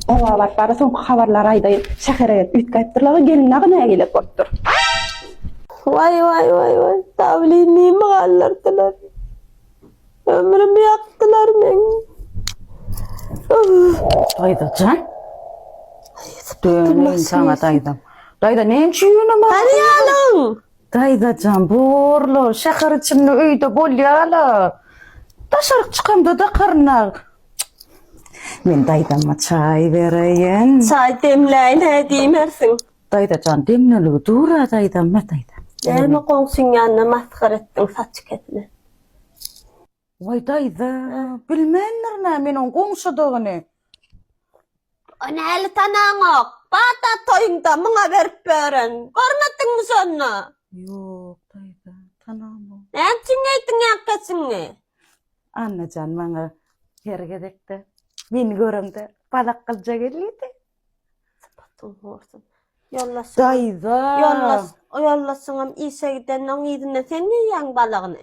Oba baryp bara soňky habarlary aýdaýyn. Şähere gelip üýtgäpdirler-a, gelin dagy nägile bolupdyr. Waý, waý, waý, waý, Dawlyn nime galdyrdylar? Ömrümi ýakdylar meň. Daýzajan. Döneýin saňa daýzam. Daýza näme üçin ýöne maňa? Hany ýalyň? Daýzajan borla şäher içinde öýde bolýala. Daşaryk çykamda dakarynag. Men daýzama çaý bereýin. Çaý demläýin hä diýmersiň. Daýzajan demleligi dur-a daýzam, mä daýzam. Näme goňşyň ýanyna masgar etdiň saçy kesilen. Waý daýza, bilmändir nä men oň goňşudygyny. O näli tanaňok? Bada toýuňda muňa berip beren. Görmediňmi şonda? Ýok daýza, tanamok. Näme üçin geýdiň ak keçiňi? Annajan maňa her gezekde meni görende balak gylja gelýärdi. Sypatyň horsun. Ýoldaş. Daýza. Ýoldaş, o ýoldaşyňam işe gidende oň yzyndan sen geýýäň balagyny.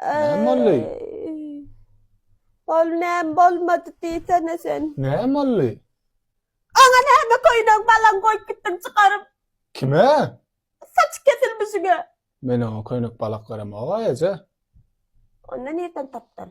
Näme boldy? Ol näme bolmady diýsene sen. Näme boldy? Oňa näme köýnek balaň goýup gitdiň çykaryp? Kime? Saçy kesilmişiňe. Men oňa köýnek balak beremog-a, eje. Onda nirden tapdyň?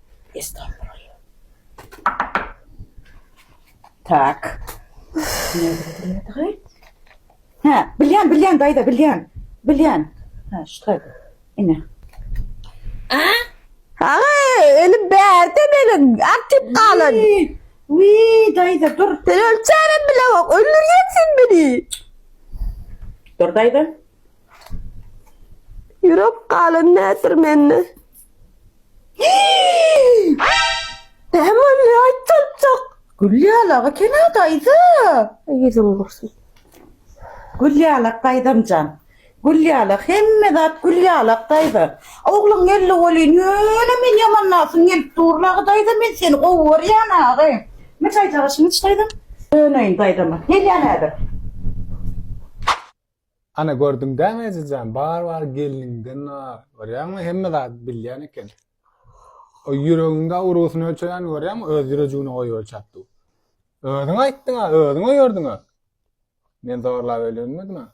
Estağfurullah. Tak. Ha, bilýän, bilýän daýza, bilýän. Bilýän. Ha, şu taýda. Ine. A? Aga, elim bärde meniň. Artyp galan. Wi, daýza, dur. Sen ölçänem bile bak, öldürýän sen meni. Dur daýza. Ýürek galan nädir mende? Näme ne aýtjakjak? Gülýalaga kena daýza. Ýüzüň gursun. Gülýalak daýzamjan. Gülýalak hemme zat Gülýalak daýza. Ogluň geldi welin ýöne men ýamanlasym gelip dur agy daýza men seni gowy görýän agy. Nime çaý çagaşyň iç daýzam? Döneýin daýzama. Gelýän häzir. Ana gördüň dämi ejejan bar bar gelniňden bar görýäňmi hemme zady bilýän eken o ýüregiňde urusyny ölçeýän görýäňmi öz ýürejigini goýup ölçäp dur özüň aýtdyň a özüň öýerdiň a men zorlap öýlenmedim a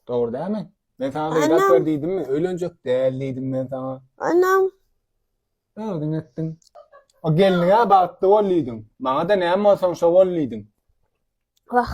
dogry dämi men saňa beýdap ber diýdimmi öýlenjek däl diýdim men saňa anam özüň etdiň o gelniňe bagtly bol diýdiň maňa da näme bolsaň şo bol diýdiň wah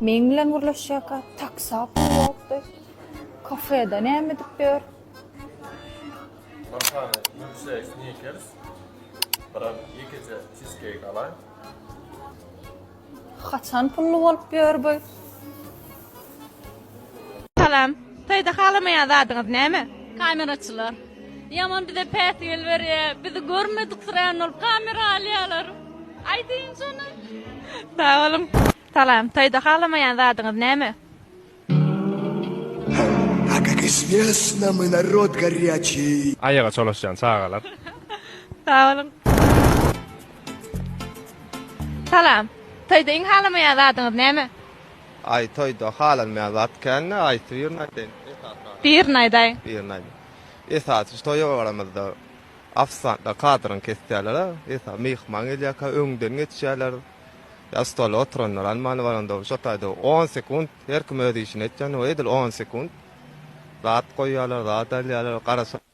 Meň bilen gürleşýärkä taksapyl ýokdy. Kafeda näme edip ýör? Bir sany milkşeýk snikers, birem ýekeje çizkeýk alaý. Haçan pully bolup ýör bu? Salam. Toýda halamaýan zadyňyz näme? Kameraçylar. Ýaman bize päsgel berýär. Bizi görmediksirän bolup kamera alýarlar. Aýdyň şony. Sag boluň. Salam. Toýda halamaýan zadyňyz näme? A kak izwesna my narod garýaçiý. Aýaga çolaşýan çagalar. Sag boluň. Salam. Toýda iň halamaýan zadyňyz näme? Aý toýda halanmaýan zat kände aýt birini aýtaýyn esasy zat. Birini aýdaý. Birini aýdaý. Esasy şu toýa baranymyzda ofisantlar kadyryny kesýärler a esasy myhman gelýärkä öňden geçýärler. Ýa stola oturanlar almany baranda şo taýda on sekunt her kim öz işini etýän edil on sekunt zat goýýarlar zat alýarlar garaşyp.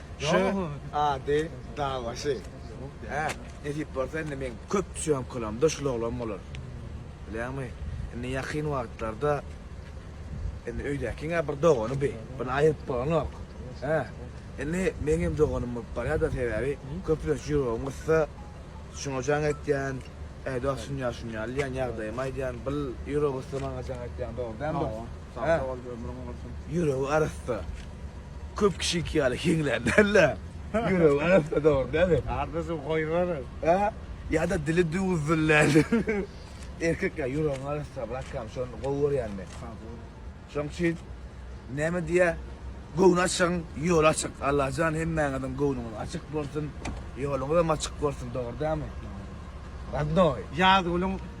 Şu ady dagbaşy. Hä, nesip bolsa indi meň köp sýomkalarymda şul oglan bolar. Bilýäňmi, indi ýakyn wagtlarda indi öýdäkiň-ä bir dogany bi, buna aýryp bolanok. Hä, indi meňem doganym bolup barýar-da, sebäbi köplenç ýüregim gyssa, şuňa jaň etýän, äý dostum ýa şuny al diýýän, ýagdaýymy aýdýan, bil, ýüregi gyssa maňa jaň etýän, dogry dälmi dost? Sag sag bol ömrüň bolsun. Ýüregi arassa. Köp kişiki ýaly heňlän däl-de. Ýüregi arassa dogry däli. Ardyjy goýberi. Hä? Ýa-da dili düwzül däli. Erkek ýa ýüregiň arassa bratkam şony gowy görýän men. Sag bol. Şoň üçin näme diýýä göwni açygyň ýoly açyk. Allajan hemmäňiziň göwnüňiz açyk bolsun. Ýoluňyzam açyk bolsun dogry dämi? Dogry. Radnoý. Ýazgülüň